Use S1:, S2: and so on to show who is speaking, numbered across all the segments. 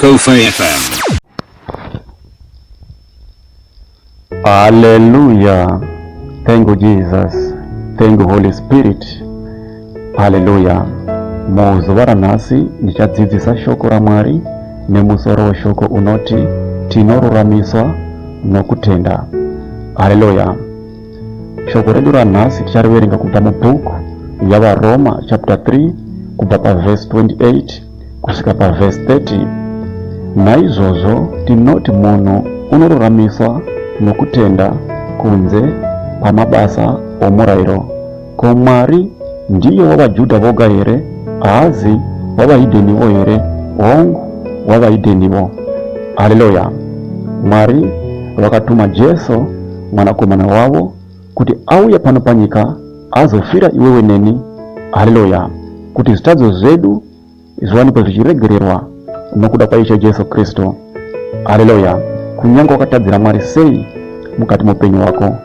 S1: Kofi FM.
S2: Hallelujah. Thank you, Jesus. Thank you, Holy Spirit. Hallelujah. Muzuva ranhasi ndichadzidzisa shoko raMwari nemusoro weshoko unoti tinoruramiswa nokutenda. Hallelujah. Shoko redu ranhasi tichariverenga kubva mubhuku yaVaroma chapter 3 kubva pavhesi 28 kusvika pavhesi 30. Naizvozvo tinoti munhu unoruramiswa nokutenda kunze kwamabasa omurayiro Ko Mwari ndiye wavaJudha voga here? Haazi wavahidhenivo here? Hongu, wavahidhenivo. Haleluya! Mwari vakatuma Jesu mwanakomana wavo kuti auye pano panyika azofira iwewe neni. Haleluya! Kuti zvitadzo zvedu zviwanikwe zvichiregererwa nokuda kwaIshe Jesu Kristu. Haleluya! Kunyange wakatadzira Mwari sei mukati moupenyu hwako,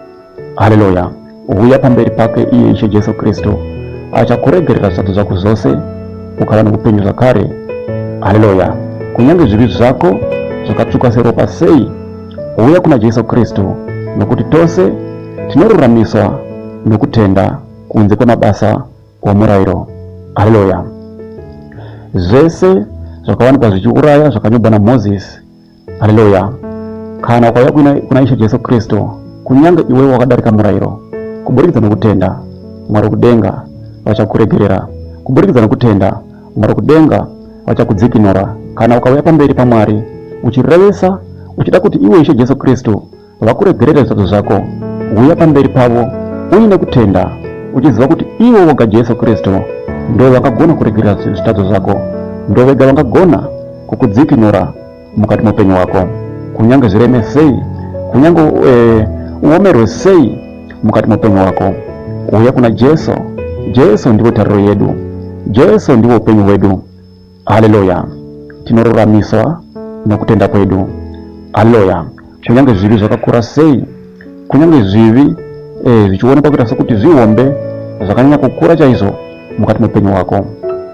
S2: haleluya, huya pamberi pake iye Ishe Jesu Kristu, achakuregerera zvisadzo zvako zvose, ukava nokupenyu zvakare. Haleluya! Kunyange zvivi zvako zvakatsvuka seropa sei, huya kuna Jesu Kristu, nokuti tose tinoruramiswa nokutenda kunze kwemabasa womurairo. Haleluya! Zvese zvakawanikwa zvichiuraya zvakanyorwa naMozisi. Haleluya! Kana ukauya kuna Ishe Jesu Kristu, kunyange iwe wakadarika murairo, kuburikidza nokutenda Mwari kudenga vachakuregerera. Kuburikidza nokutenda Mwari kudenga vachakudzikinura. Kana ukauya pamberi paMwari uchirevesa uchida kuti iwe Ishe Jesu Kristu vakuregerere zvisadzo zvako huya pamberi pavo uine kutenda uchiziva kuti ivo voga jesu kristu ndo vakagona kuregerera zvitadzo zvako ndo vega vangagona kukudzikinura mukati moupenyu hwako kunyange zvireme sei kunyange eh, uomerwe sei mukati moupenyu hwako uya kuna jesu jesu ndivo tariro yedu jesu ndivo upenyu hwedu Haleluya! Tinoruramiswa nokutenda kwedu. Haleluya! Kunyange zvivi zvakakura sei, kunyange zvivi eh, zvichionekwa kuita sekuti zvihombe zvakanyanya kukura chaizvo mukati meupenyu hwako,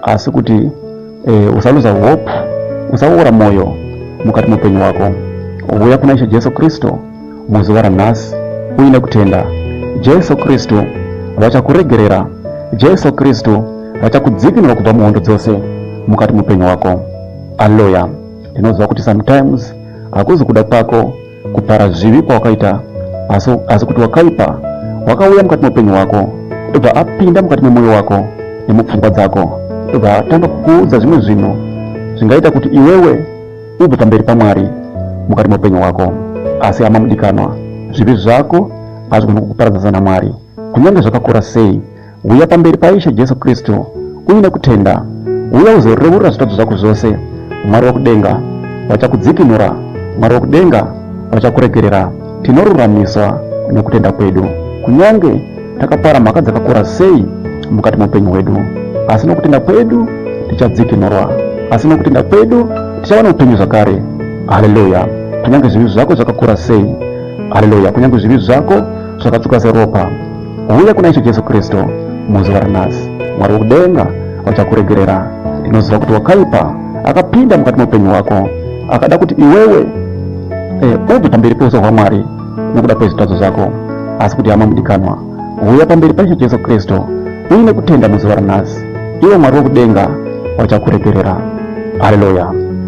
S2: asi kuti eh, usaluza hope, usaora mwoyo mukati meupenyu hwako. Uya kuna Ishe Jesu Kristu. muzuva ranhasi uine kutenda jesu kristu vachakuregerera jesu kristu vachakudzikinura kubva muhondo dzose mukati mupenyu wako aloya ndinoziva kuti sometimes hakuzi kuda kwako kupara zvivi kwawakaita asi, asi kuti wakaipa wakauya mukati meupenyu hwako ndobva apinda mukati memwoyo wako nemupfungwa dzako ndobva atanga kukuudza zvimwe zvinhu zvingaita kuti iwewe Ubve pamberi paMwari mukati meupenyu hwako. Asi hama mudikanwa, zvivi zvako hazvigoni kukuparadzanisa naMwari. Kunyange zvakakura sei, huya pamberi paIshe Jesu Kristu uine kutenda. Huya uzoreurura zvitadzo zvako zvose. Mwari wakudenga vachakudzikinura. Mwari wakudenga vachakuregerera. Tinoruramiswa nokutenda kwedu kunyange Takapara mhaka dzakakura sei mukati meupenyu hwedu, asi nokutenda kwedu tichadzikinurwa, asi nokutenda kwedu tichava neupenyu zvakare. Haleluya! Kunyange zvivi zvako zvakakura sei, haleluya, kunyange zvivi zvako zvakatsuka seropa, huya kuna Ishe Jesu Kristu muzuva ranhasi. Mwari wokudenga vachakuregerera. Ndinoziva kuti wakaipa akapinda mukati meupenyu hwako, akada kuti iwewe eh, ubve pamberi peuso hwaMwari nekuda kwezvitadzo zvako asi kuti hama mudikanwa huya pamberi paishe jesu kristu uine kutenda muzuva ranhasi ivo mwari wekudenga vachakuregerera haleluya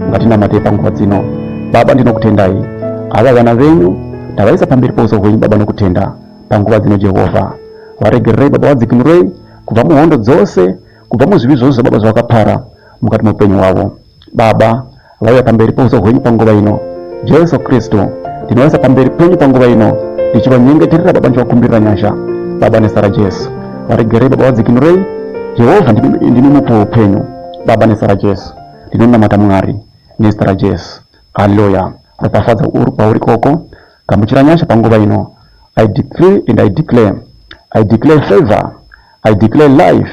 S2: ngatinamatei panguva dzino baba ndinokutendai ava vana venyu ndavaisa pamberi pouso hwenyu baba nokutenda panguva dzino jehovha varegererei baba vadzikinurei kubva muhondo dzose kubva muzvivi zvose zvababa zvavakapara mukati meupenyu hwavo Baba, vauya pamberi pouso hwenyu panguva ino. Jesu Kristu, ndinoisa pamberi penyu panguva ino, ndichivanyengeterera Baba, ndichivakumbirira nyasha. Baba, nezita raJesu, varegerei Baba, vadzikinurei. Jehovha, ndimi mupo weupenyu. Baba, nezita raJesu, ndinonamata Mwari, nezita raJesu. Haleluya. Ropafadza uri kwauri koko. Gamuchira nyasha panguva ino. I decree and I declare. I declare favor. I declare life.